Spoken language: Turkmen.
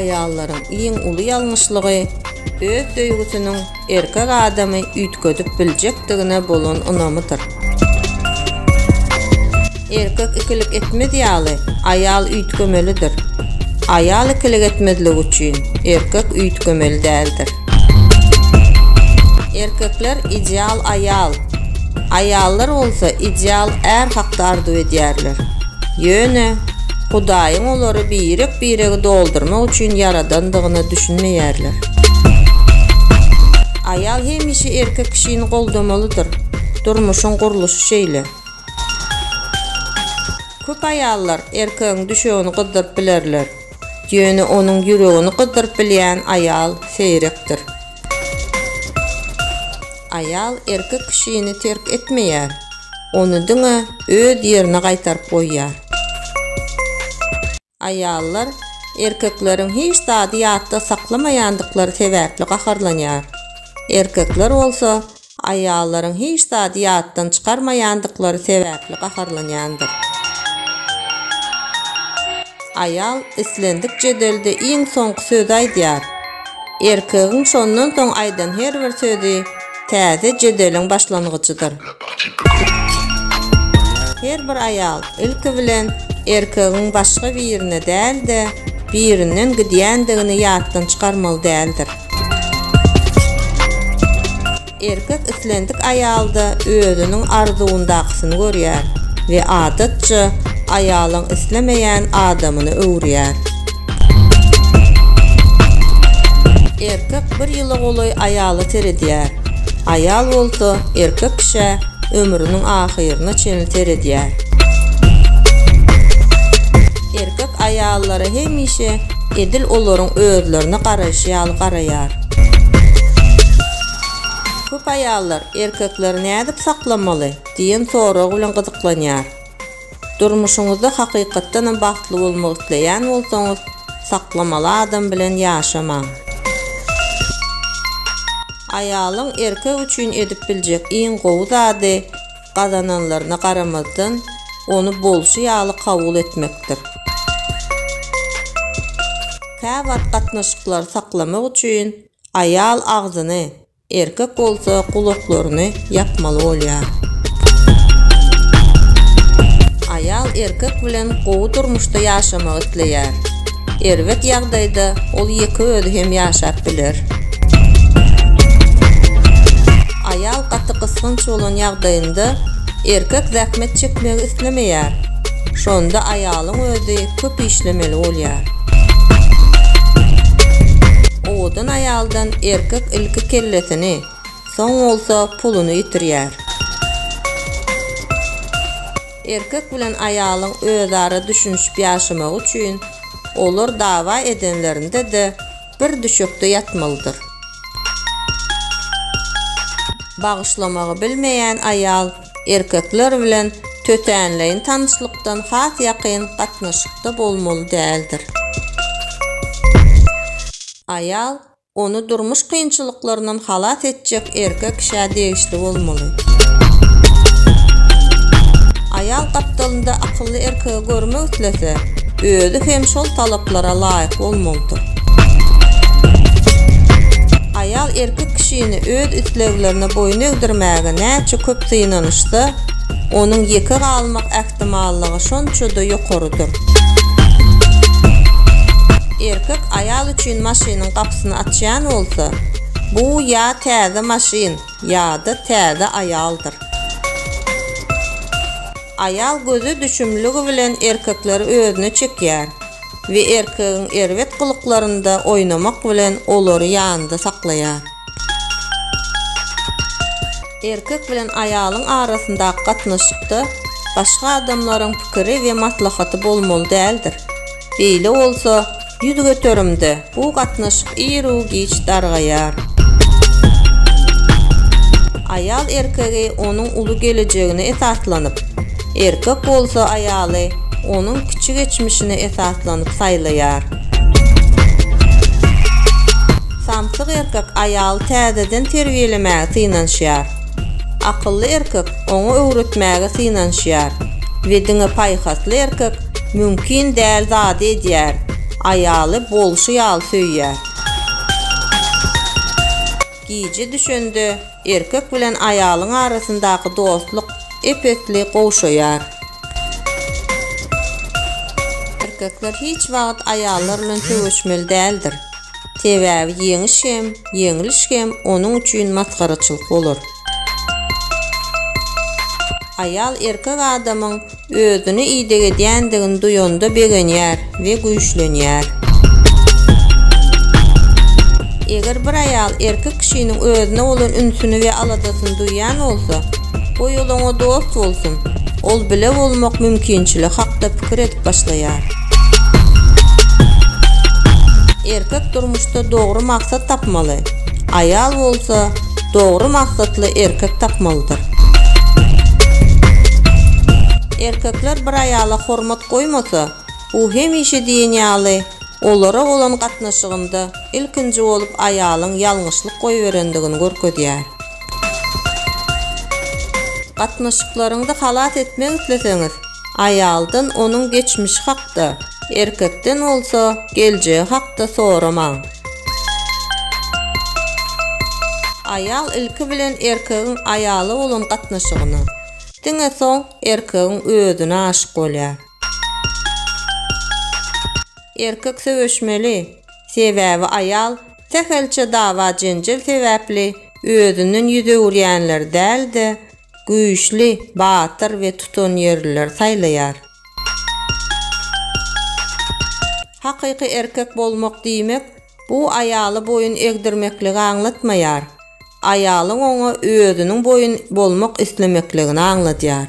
Aýallaryň iň uly ýalňyşlygy öz söýgüsiniň erkek adamy üýtgedip biljekdigine bolan ynamydyr. Erkek ikilik etmez ýaly, aýal üýtgemelidir. Aýal ikilik etmezlik üçin, erkek üýtgemeli däldir. Erkekler ideal aýal, aýallar bolsa ideal är hakda arzuw edýärler. Ýöne, Hudaýyň olary birek-biregi doldurmak üçin ýaradandygyna düşünmeýärler. Aýal hemişe erkek kişini goldamalydyr. Durmuşyň gurluşy şeýle. Köp aýallar erkegiň düşegini gyzdyryp bilerler. Ýöne onuň ýüregini gyzdyryp bilýän aýal seýrekdir. Aýal erkek kişini terk etmeýär, ony diňe öz ýerine gaýtaryp goýýar. Aýallar erkekleriň hiç zady ýatda saklamaýandyklary sebäpli gaharlanýar. Erkekler bolsa Aýallaryň hiç zady ýatdan çykarmaýandyklary sebäpli gaharlanýandyr. Aýal islendik jedelde iň soňky sözi aýdýar. Erkegiň şondan soň aýdan her bir sözi täze jedeliň başlangyjydyr. Her bir aýal ilki bilen erkegiň başga birine däl-de, birinden gidýändigini ýatdan çykarmaly däldir. Erkek islendik aýalda özüniň arzuwyndakysyny görýär we adatça, aýalyň islemeýän adamyny öwürýär. Erkek bir ýyla golaý aýala seredýär, aýal bolsa erkek kişä ömrüniň ahyryna çenli seredýär. Erkek aýallara hemişe Edil olaryň özlerine garaýşy ýaly garaýar. Köp aýallar erkekleri nädip saklamaly? diýen sorag bilen gyzyklanýar. Durmuşyňyzda hakykatdanam bagtly bolmak isleýän bolsaňyz, saklamaly adam bilen ýaşamaň. Aýalyň erkek üçin edip biljek iň gowy zady, gazananlaryna garamazdan, ony bolşy ýaly kabul etmekdir. Käwagt gatnaşyklary saklamak üçin aýal agzyny, erkek bolsa gulaklaryny ýapmaly bolýar. Aýal erkek bilen gowy durmuşda ýaşamagy isleýär. Erbet ýagdaýda ol ýeke özi hem ýaşap biler. Aýal gaty gysganç bolan ýagdaýynda erkek zähmet çekmegi islemeýär. Şonda aýalyň özi köp işlemeli bolýar. Owadan aýaldan erkek ilki kellesini, soň bolsa puluny ýitirýär. Erkek bilen aýalyň özara düşünişip ýaşamagy üçin olar dawa edenlerinde-de bir düşekde ýatmalydyr. Bagyşlamagy bilmeýän aýal erkekler bilen tötänleýin tanyşlykdan has ýakyn gatnaşykda bolmaly däldir. Aýal ony durmuş kynçylyklaryndan halas etjek erkek kişä degişli bolmaly. Aýal gapdalynda akylly erkegi görmek islese, özi hem şol talaplara laýyk bolmalydyr. Aýal erkek kişini öz isleglerine boýun egdirmäge näçe köp synanyşsa, onuň ýeke galmak ähtimallygy şonça-da ýokarydyr. Erkek aýal üçin maşynyň gapysyny açýan bolsa, bu ýa täze maşyn, ýa-da täze aýaldyr. Aýal göze düşümligi bilen erkekleri özüne çekýär we erkegiň erbet gylyklarynda oýnamak bilen olary ýanynda saklaýar. Erkek bilen aýalyň arasyndaky gatnaşykda başga adamlaryň pikiri we maslahaty bolmaly däldir. Beýle bolsa, ýüz göterimde bu gatnaşyk iru-giç dargaýar. Aýal erkegi onuň uly gelejegine esaslanyp, erkek bolsa aýaly onuň kiçi geçmişine esaslanyp saýlaýar. Samsyk erkek aýaly täzeden terbiýelemäge synanyşýar. Akylly erkek oňa öwretmäge synanyşýar we diňe paýhasly erkek mümkin däl zady edýär, aýaly bolşy ýaly söýýär. Gije düşende erkek bilen aýalyň arasyndaky dostluk ep-esli gowşaýar. Erkekler hiç wagt aýallar bilen söweşmeli däldir. Sebäbi ýeňiş hem, ýeňiliş hem onuň üçin masgaraçylyk bolar. Aýal erkek adamyň Özüni ideg edýändigini duýanda begenýär we güýçlenýär. Eger bir aýal erkek kişiniň özüne bolan ünsüni we aladasyny duýýan bolsa, goý ol oňa dost bolsun, ol bile bolmak mümkinçiligi hakda pikir edip başlaýar. Erkek durmuşda dogry maksat tapmaly. aýal bolsa dogry maksatly erkek tapmalydyr. Erkekler bir aýala hormat goýmasa, u hemişe diýen ýaly olara bolan gatnaşygynda ilkinji bolup aýalyň ýalňyşlyk goýberendigini görkezýär. Gatnaşyklaryňyzy halas etmek isleseňiz, aýaldan onuň geçmişi hakda, erkekden bolsa geljegi hakda soramaň. Aýal ilki bilen erkegiň aýala bolan gatnaşygyna, diňe soň erkegiň özüne aşyk bolýar. Erkek söweşmeli, sebäbi aýal sähelçe dawa-jenjel sebäpli özünden ýüz öwürýänleri däl-de, güýçli, batyr we tutanýerlileri saýlaýar. Hakyky erkek bolmak diýmek, bu aýaly boýun egdirmekligi aňlatmaýar. Aýalyň oňa özüniň boýun bolmak islemekligini aňladýar.